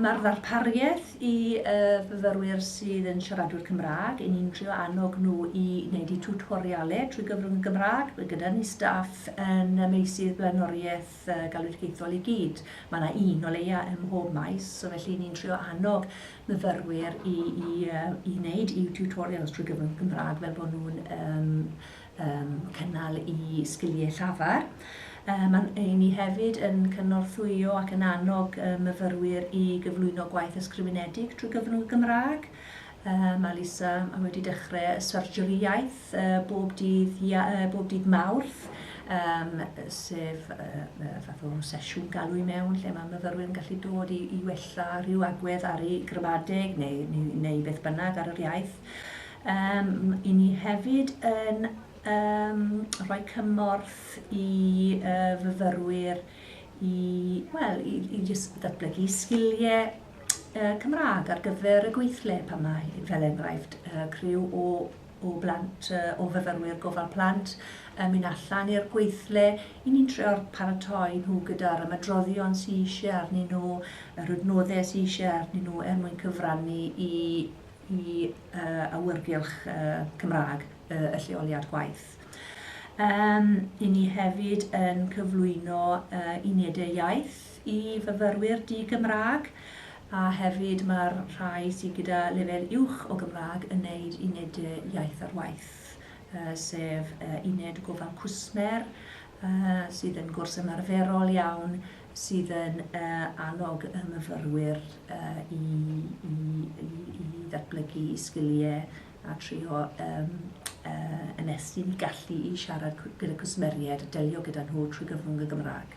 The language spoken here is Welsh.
Mae'r ddarpariaeth i y fyfyrwyr sydd yn siaradwyr Cymraeg, i ni'n trio annog nhw i wneud eu tiwtorialau trwy gyfrwng y Gymraeg. Mae gyda ni staff yn y meysydd blaenoriaeth y galwedigaethol i gyd. Mae yna un o leia ym mhob maes, so felly ni'n trio annog myfyrwyr i i yy i wneud eu tiwtorials trwy gyfrwng y Gymraeg fel bod nhw'n yym yym cynnal i sgiliau llafar. Yy ma'n yy ni hefyd yn cynorthwyo ac yn annog yy myfyrwyr i gyflwyno gwaith ysgrifenedig trwy gyfrwng y Gymraeg. Yy, mae Lisa yn wedi dechre y surgery iaith yy bob dydd Ia- yy bob dydd Mawrth, yym sef yy yy fath o sesiwn galw i mewn lle mae myfyrwyr yn gallu dod i i wella rhyw agwedd ar eu gramadeg neu neu neu beth bynnag ar yr iaith. Yym, 'yn ni hefyd yn yym rhoi cymorth i yy fyfyrwyr i, wel, i i jyst ddatblygu sgilie Cymraeg ar gyfer y gweithle pan mae fel enghraifft criw o o blant, o fyfyrwyr gofal plant yn mynd allan i'r gweithle, i ni'n trio paratoi nhw gyda'r ymadroddion sydd eisiau arnyn nhw, yr adnoddau sydd eisiau arnyn nhw er mwyn cyfrannu i i awyrgylch Cymraeg y lleoliad gwaith. Yym, i ni hefyd yn cyflwyno unedau iaith i fyfyrwyr di-Gymraeg, a hefyd mae'r rhai sydd gyda lefel uwch o Gymraeg yn neud uned iaith ar waith, sef uned gofal cwsmer, sydd yn gwrs ymarferol iawn, sydd yn annog y myfyrwyr i ddatblygu eu sgiliau a trio ymestyn eu gallu i siarad gyda cwsmeriaid a delio gyda nhw trwy gyfrwng y Gymraeg.